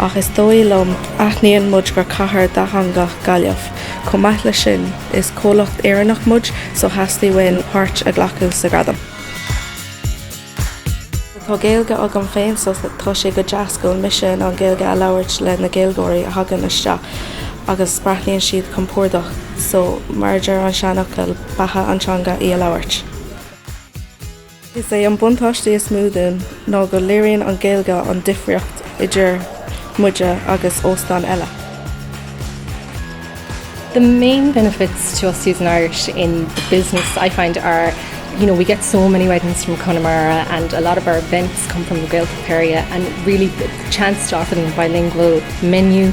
Ach is dóigh liom, aithníonn muid gur cathair dhátheangach Gaillimh. Chomh maith leis sin, is comhlacht Éireannach muid so theastaigh uainn páirt a ghlacadh sa Ghradam. Tá Gaeilge agam féin so tá sé go deas go bhfuil mise in ann Gaeilge a labhairt le na Gaeilgeoirí a thagann isteach agus breathnaíonn siad compordach so mar a deir an seanfhocal, beatha an teanga í a labhairt. Is é an buntáiste is mó dúinn ná go léiríonn an Ghaeilge an difríocht idir muide agus óstáin eile. The main benefits to us using Irish in the business I find are you know we get so many weddings from Connemara and a lot of our events come from the Gaeltacht area and really the chance to offer them a bilingual menu